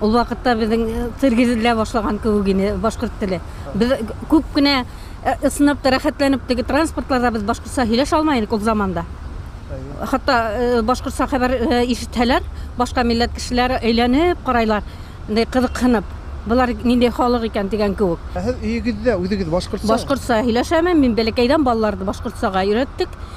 Ул вакытта безнең цирк изелә башлаган кебек иде башкорт теле. Без күп кенә ысынып та, рәхәтләнеп теге транспортларда без башкортса һөйләшә алмый идек ул заманда. Хәтта башкортса хәбәр ишетһәләр, башка милләт кешеләре әйләнеп карайлар, инде кызыксынып. Болар нинди халык икән дигән кебек. Ә сез өегездә үзегез башкортса? Башкортса һөйләшәмен. Мин бәләкәйдән балаларны башкортсага өйрәттек.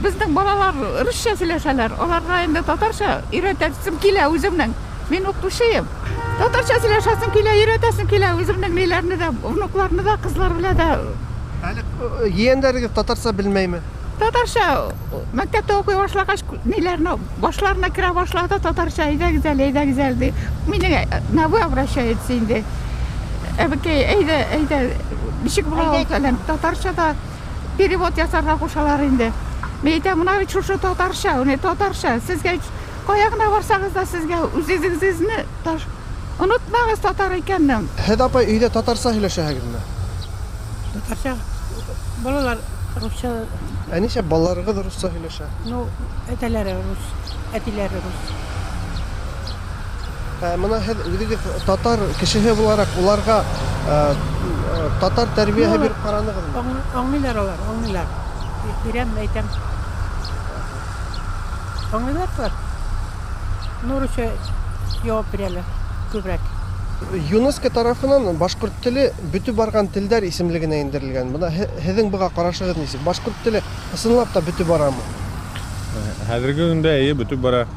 Безнең балалар русча сөйләшәләр, аларга инде татарча өйрәтәсем килә үземнең. Мин укытучыем. Татарча сөйләшәсем килә, өйрәтәсем килә үземнең ниләрне дә, внукларны да, кызлар белән дә. Әле егәннәрегез татарча белмәйме? Татарча мәктәптә укый башлагач, ниләрне башларына керә башлады, татарча әйдәгез әле, әйдәгез әле ди. Мине на вы обращается инде. Әбекәй, әйдә, әйдә, ничек була ул фәлән, татарча да. перевод ясарга кушалар инде. Мин әйтәм, менә бит шушы татарча, уни татарча. Сезгә кая гына барсагыз да сезгә үзегезне таш онытмагыз татар икәннең. Һез апа өйдә татарча һөйләшәһегезме? Татарча. Балалар русча. Ә ничә балаларыгыз русча һөйләшә? Ну, әтәләре рус, әтиләре рус. Ә менә һез үзегез татар кешеһе буларак уларга э, э, татар тәрбияһе Юк. биреп караныгызмы? Аң- Аңлыйлар алар, аңлыйлар. Б- Бирәм, әйтәм. Аңлыйлар алар. Нурыча җавап бирәләр күбрәк. ЮНЕСКО тарафынан башкорт теле бөтеп барган телдәр исемлегенә индерелгән. Менә һе- һезең буга карашыгыз ничек? Башкорт теле ысынлап та бөтеп барамы? Хәзерге көндә әйе бөтеп бара.